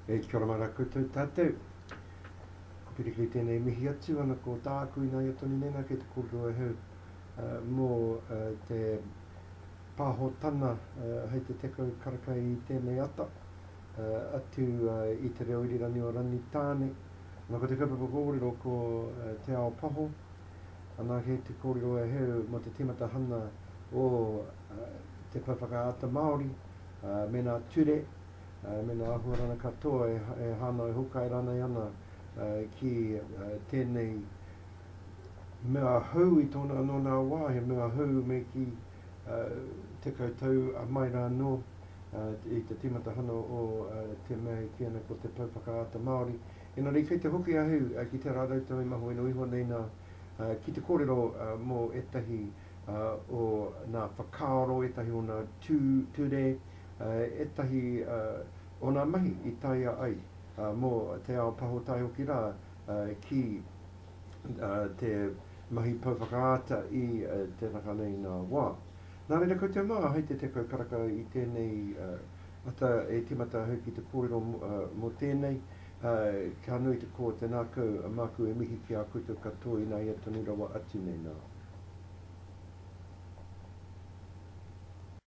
E te karama ra koutou tatou. Ko Piriki i tenei mihi atu ana ko tāku i naia tonu nei na kei te kōrero e hau mō te pāhotana hei te tekau karaka i tenei ata atu i te reo irirangi o Rangitāne. Na ko te kaupapa kōrero ko Te Ao Paho, Anake te kōrero e Heru mō te tīmatahana o te pae whakaata Māori, mēnā ture, mēnā āhuarana katoa e hānai hokai rānei ana ki tēnei mea hou i tōna anō nā wā, he mea hou me kī 10 tau a mai rānō i te tīmatahana o te mea e kī ana ko te pae whakaata Māori. Engari kei te hoki ahu ki te rānau tangi maho ino iho nei nā, ki te kōrero mō ētahi o nā whakaaro, ētahi o nā tū, ture, ētahi o nā mahi i taea ai mō te ao paho tae hoki rā ki te mahi pou whakaata i te naka nei nā wā. Nā reira koutou mā, hei te tekau karaka i tēnei. ata e timata ahau ki te kōrero mo tēnei, ka nui te kō, tēnā kau, māku e mihi ki a koutou katoa i nāia tonu rawa atu nei nā.